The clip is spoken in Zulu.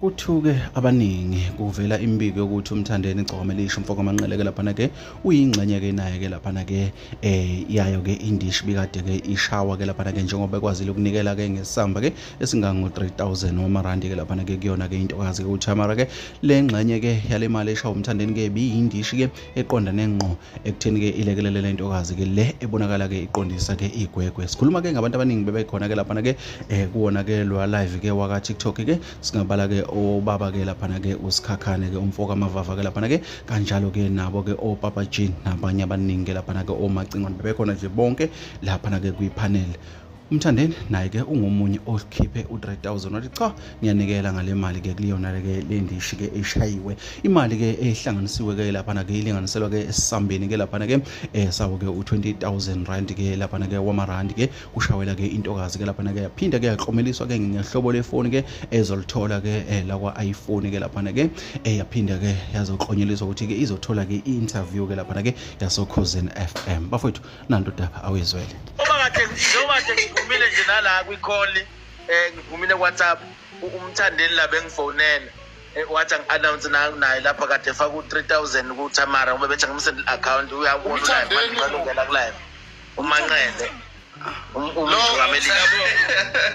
Kuthuke abaningi kuvela imibiko yokuthi uMthandeni Gcome lisho mfoko amanqele ke laphana ke uyingxenye ke naye ke laphana ke eh yayo ke indish bikade ke ishawa ke laphana ke njengoba ekwazile ukunikela ke ngesamba ke esingango 3000 wamarandi ke laphana ke kuyona ke intokazi ke uThamara ke lengxenye ke yalemali eshawa uMthandeni ke biyindishi ke eqondane ngqo ekutheni ke ilekelele le ntokazi ke le ebonakala ke iqondisa ke igwegwe sikhuluma ke ngabantu abaningi bebekhona ke laphana ke eh kuwona ke lo live ke waka TikTok ke singabala ke obaba ke laphana ke usikhakhane ke umfoka amavava ke laphana ke kanjalo ke nabo ke opapa Jean nabanye abaningi ke laphana ke omacingo bebekhona nje bonke laphana ke kwi panel umthandeni naye-ke ungomunye okhiphe u-3000 wathi cha ngiyanikela ngale mali-ke kuleyona-ke le ndishi-ke eshayiwe imali-ke ehlanganisiwe-ke laphana-ke ilinganiselwa-ke esisambeni-ke laphana-ke eh, sawo-ke u-20000 rand-ke laphana-ke wamarandi-ke kushawela-ke intokazi-ke laphana-ke yaphinda-ke yaklomeliswa-ke ngehlobo lefoni-ke ezolithola-ke eh, lakwa-iphone-ke laphana-ke eh, yaphinda-ke yazoklonyeliswa ukuthi-ke izothola-ke i-interview-ke laphana-ke yasokhozini f m bafowethu nanto daba awuyizwele uma kade njengoba nje ngiphumile nje nala kwikholi eh ngiphumile WhatsApp umthandeni la bengifonela eh, wathi angi-announce naye lapha kade efaka u-three thousand kutamara uma bethi angimusendele i-account uyakubona ulaymanqalungela kulayena umanqele umjukameliyabonga